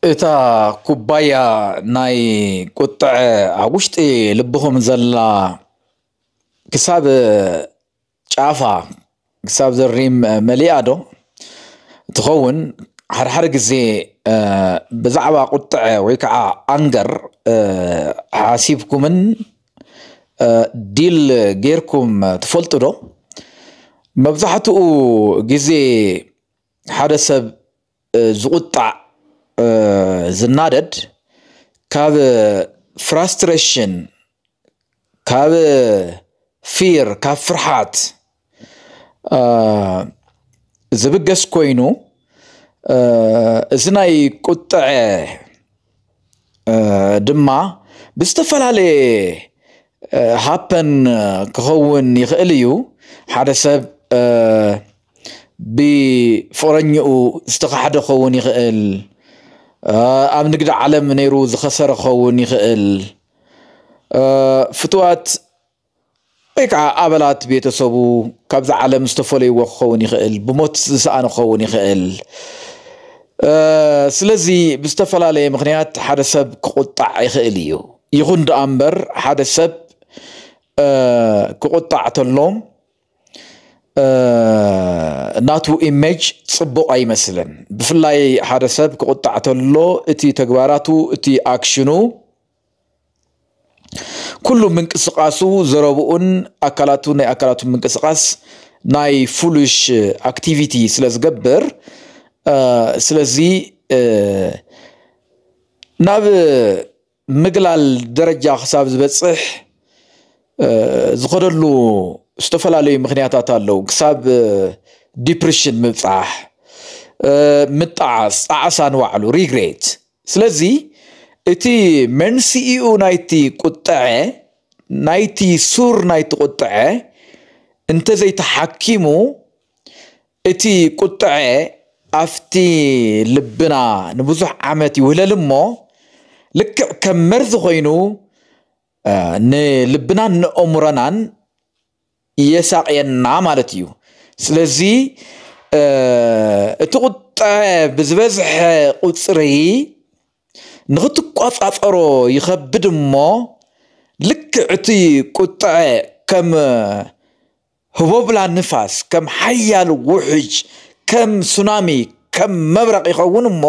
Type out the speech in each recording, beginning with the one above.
እታ ኩባያ ናይ ቁጥዐ ኣብ ውሽጢ ልብኹም ዘላ ክሳብ ጫፋ ክሳብ ዘሪም መሊኣ ዶ ትኸውን? ሓደ ሓደ ግዜ ብዛዕባ ቁጥዐ ወይ ከዓ ኣንገር ሓሲብኩምን ዲል ጌርኩም ትፈልጡ ዶ? መብዛሕትኡ ግዜ ሓደ ሰብ ዝቁጣዕ ዝናደድ ካብ ፍራስትሬሽን ካብ ፊር ካብ ፍርሓት ዝብገስ ኮይኑ እዚ ናይ ቁጠዐ ድማ ብዝተፈላለየ ሃፐን ክኸውን ይኽእል እዩ ሓደ ሰብ ብፎረኝኡ ዝተኻሕደ ክኸውን ይኽእል ኣብ ንግዲ ዓለም ነይሩ ዝኸሰረ ክኸውን ይኽእል ፍትዋት ወይ ከዓ ኣባላት ቤተሰቡ ካብዚ ዓለም ዝተፈለይዎ ክኸውን ይኽእል፣ ብሞት ዝሰኣኑ ክኸውን ይኽእል። ስለዚ ብዝተፈላለየ ምክንያት ሓደ ሰብ ክቁጣዕ ይኽእል እዩ። ይኹን ደኣ እምበር ሓደ ሰብ ክቁጣዕ ተሎ ናቱ ኢሜጅ ጽቡቕ ኣይመስልን። ብፍላይ ሓደ ሰብ ክቁጣዕ ተሎ እቲ ተግባራቱ እቲ ኣክሽኑ ኩሉ ምንቅስቃሱ ዘረብኡን ኣካላቱ ናይ ኣካላቱ ምንቅስቃስ ናይ ፉሉሽ ኣክቲቪቲ ስለ ዝገብር ስለዚ ናብ ምግላል ደረጃ ክሳብ ዝበፅሕ ዝኸደሉ ዝተፈላለዩ ምክንያታት ኣለዉ ክሳብ ዲፕሬሽን ምብፃሕ ምጣዓስ ጣዕሳ ንባዕሉ ሪግሬት ስለዚ እቲ መንስኢኡ ናይቲ ቁጠዐ ናይቲ ሱር ናይቲ ቁጠዐ እንተዘይተሓኪሙ እቲ ቁጠዐ ኣፍቲ ልብና ንብዙሕ ዓመት ይውህለል እሞ ልክዕ ከም መርዚ ኮይኑ ንልብናን ንኦሙረናን የሳቕየና ማለት እዩ ስለዚ እቲ ቁጠዐ ብዝበዝሐ ቁፅሪ ንኽትቆፃፀሮ ይኸብድ እሞ ልክዕ እቲ ቁጠዐ ከም ህቦብላ ንፋስ ከም ሓያል ውሕጅ ከም ሱናሚ ከም መብረቕ ይኸውን እሞ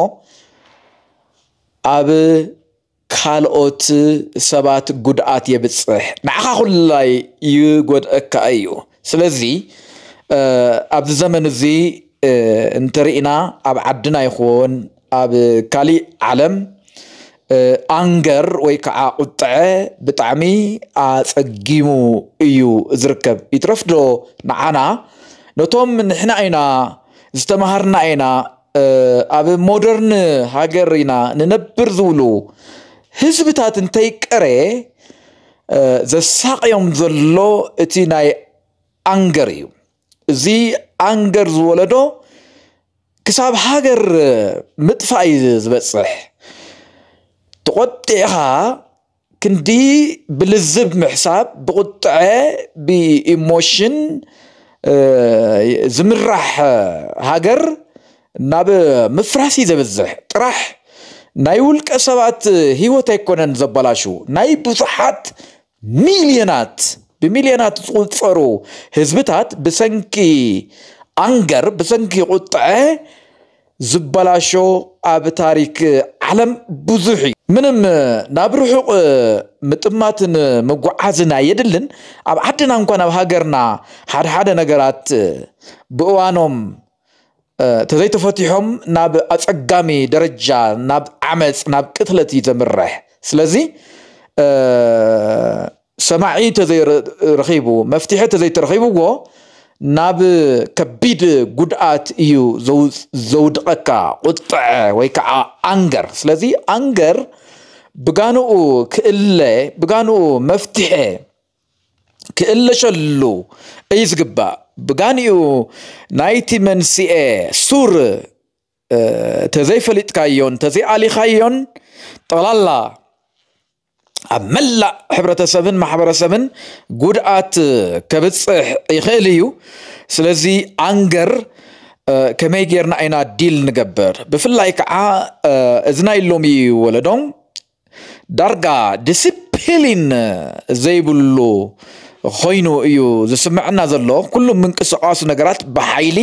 ኣብ ካልኦት ሰባት ጉድኣት የብፅሕ ንዓኻ ኩላይ ይጎድእካ እዩ ስለዚ ኣብዚ ዘመን እዚ እንተሪኢና ኣብ ዓድና ይኹን ኣብ ካሊእ ዓለም ኣንገር ወይ ከዓ ቁጥዐ ብጣዕሚ ኣፀጊሙ እዩ ዝርከብ ይትረፍዶ ንዓና ነቶም ንሕና ኢና ዝተምሃርና ኢና ኣብ ሞደርን ሃገር ኢና ንነብር ዝብሉ ህዝብታት እንተይቀረ ዘሳቕዮም ዘሎ እቲ ናይ ኣንገር እዩ። እዚ ኣንገር ዝወለዶ ክሳብ ሃገር ምጥፋእ እዩ ዝበፅሕ። ተቖጢዕኻ ክንዲ ብልዝብ ምሕሳብ ብቁጠዐ ብኢሞሽን ዝምራሕ ሃገር ናብ ምፍራስ እዩ ዘብዝሕ ጥራሕ ናይ ውልቀ ሰባት ሂወት ኣይኮነን ዘበላሹ ናይ ብዙሓት ሚልዮናት ብሚልዮናት ዝቁጸሩ ህዝብታት ብሰንኪ ኣንገር ብሰንኪ ቁጠዐ ዝበላሾ ኣብ ታሪክ ዓለም ብዙሕ እዩ። ምንም ናብ ርሑቕ ምጥማትን ምጉዓዝን ኣየድልን። ኣብ ዓድና እንኳን ኣብ ሃገርና ሓድሓደ ነገራት ብእዋኖም ተዘይተፈቲሖም ናብ ኣጸጋሚ ደረጃ ናብ ዓመጽ ናብ ቅትለት እዩ ዘምርሕ። ስለዚ ሰማዒ ተዘይረኺቡ መፍትሒ ተዘይተረኺብዎ ናብ ከቢድ ጉድኣት እዩ ዘውድቐካ ቁጥዐ ወይ ከዓ ኣንገር ስለዚ ኣንገር ብጋንኡ ክእለ ብጋንኡ መፍትሐ ክእለሸሉ እዩ ዝግባእ ብጋንኡ ናይቲ መንስኤ ሱር ተዘይፈሊጥካዮን ተዘይኣሊኻዮን ጠቕላላ ኣብ መላእ ሕብረተሰብን ማሕበረሰብን ጉድኣት ከብፅሕ ይኽእል እዩ ስለዚ ኣንገር ከመይ ጌርና ኢና ዲል ንገብር ብፍላይ ከዓ እዚ ናይ ሎሚ ወለዶ ዳርጋ ዲስፕሊን ዘይብሉ ኾይኑ እዩ ዝስመዐና ዘሎ። ኩሉ ምንቅስቓሱ ነገራት ብሓይሊ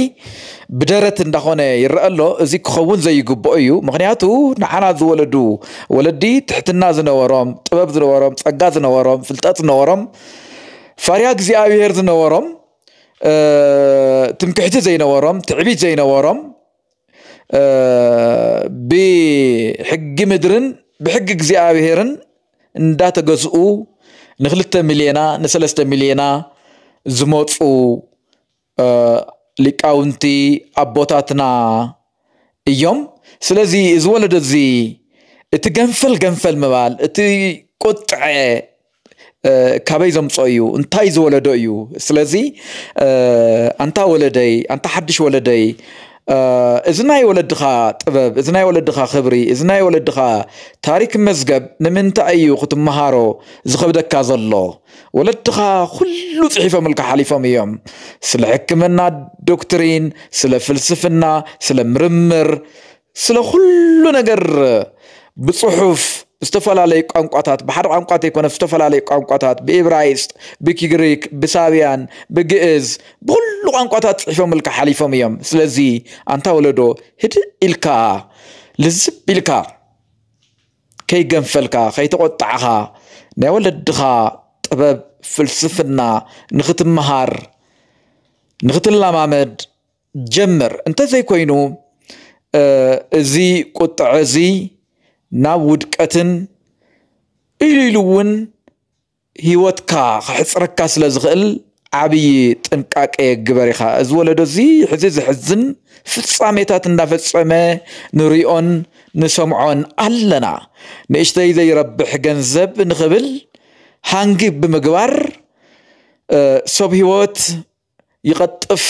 ብደረት እንዳኾነ ይረአ ኣሎ። እዚ ክኸውን ዘይግብኦ እዩ። ምኽንያቱ ንዓና ዝወለዱ ወለዲ ትሕትና ዝነበሮም፣ ጥበብ ዝነበሮም፣ ጸጋ ዝነበሮም፣ ፍልጠት ዝነበሮም፣ ፈሪሃ እግዚኣብሄር ዝነበሮም፣ ትምክሕቲ ዘይነበሮም፣ ትዕቢት ዘይነበሮም ብሕጊ ምድርን ብሕጊ እግዚኣብሄርን እንዳተገዝኡ ንክልተ ሚልዮና ንሰለስተ ሚልዮና ዝመፁ ሊቃውንቲ ኣቦታትና እዮም። ስለዚ እዚ ወለዶ እዚ እቲ ገንፈል ገንፈል ምባል እቲ ቁጥዐ ካበይ ዘምፆ እዩ እንታይ ዝወለዶ እዩ ስለዚ ኣንታ ወለደይ ኣንታ ሓድሽ ወለደይ እዚ ናይ ወለድኻ ጥበብ፣ እዚ ናይ ወለድኻ ክብሪ፣ እዚ ናይ ወለድኻ ታሪክ መዝገብ ንምንታይ እዩ ክትመሃሮ ዝኸብደካ ዘሎ? ወለድኻ ኩሉ ጽሒፎምልካ ሓሊፎም እዮም። ስለ ሕክምና ዶክትሪን፣ ስለ ፍልስፍና፣ ስለ ምርምር፣ ስለ ኩሉ ነገር ብጽሑፍ ዝተፈላለዩ ቋንቋታት ብሓደ ቋንቋ ዘይኮነ ዝተፈላለዩ ቋንቋታት ብኢብራይስጥ ብግሪክ ብሳብያን ብግእዝ ብኹሉ ቋንቋታት ጽሒፎምልካ ሓሊፎም እዮም ስለዚ ኣንታ ወለዶ ህድእ ኢልካ ልዝብ ኢልካ ከይገንፈልካ ከይተቖጣዕኻ ናይ ወለድኻ ጥበብ ፍልስፍና ንኽትመሃር ንኽትለማመድ ጀምር እንተዘይኮይኑ እዚ ቁጥዐ እዚ ናብ ውድቀትን ኢሉ ኢሉ እውን ሂወትካ ከሕጽረካ ስለ ዝኽእል ዓብይ ጥንቃቄ ግበር ኢኻ። እዚ ወለዶ እዚ ሕዚ ዘሕዝን ፍጻሜታት እንዳፈጸመ ንሪኦን ንሰምዖን ኣለና። ንእሽተይ ዘይረብሕ ገንዘብ ንኽብል ሃንግ ብምግባር ሰብ ሂወት ይቐጥፍ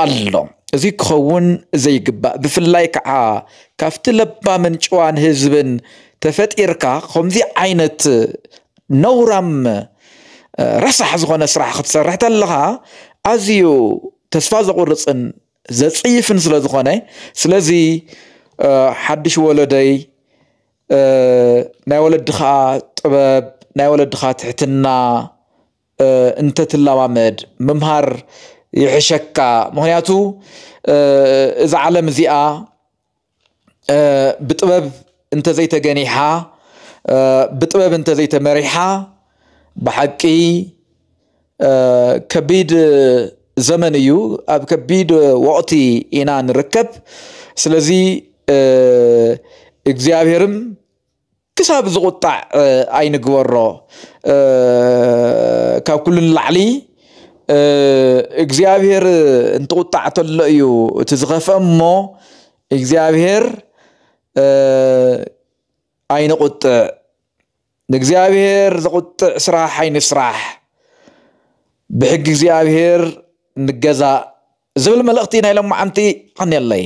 ኣሎ። እዚ ክኸውን ዘይግባእ ብፍላይ ከዓ ካብቲ ለባምን ጭዋን ህዝብን ተፈጢርካ ከምዚ ዓይነት ነውራም ረሳሕ ዝኾነ ስራሕ ክትሰርሕ ተለኻ ኣዝዩ ተስፋ ዘቑርፅን ዘፅይፍን ስለ ዝኾነ ስለዚ ሓድሽ ወለደይ ናይ ወለድኻ ጥበብ ናይ ወለድኻ ትሕትና እንተትላማመድ ምምሃር ይሕሸካ ምክንያቱ እዛ ዓለም እዚኣ ብጥበብ እንተዘይተገኒሓ ብጥበብ እንተዘይተመሪሓ ብሓቂ ከቢድ ዘመን እዩ ኣብ ከቢድ ወቕቲ ኢና ንርከብ ስለዚ እግዚኣብሔርም ክሳብ ዝቑጣዕ ኣይንግበሮ። ካብ ኩሉ ንላዕሊ እግዚኣብሄር እንትቑጣዕ ተሎ እዩ እቲ ዝኸፍአ እሞ እግዚኣብሄር ኣይንቑጥዕ። ንእግዚኣብሄር ዘቑጥዕ ስራሕ ኣይንስራሕ። ብሕጊ እግዚኣብሄር ንገዛእ ዝብል መልእኽቲ ናይ ሎማዓንቲ ኣንየለይ።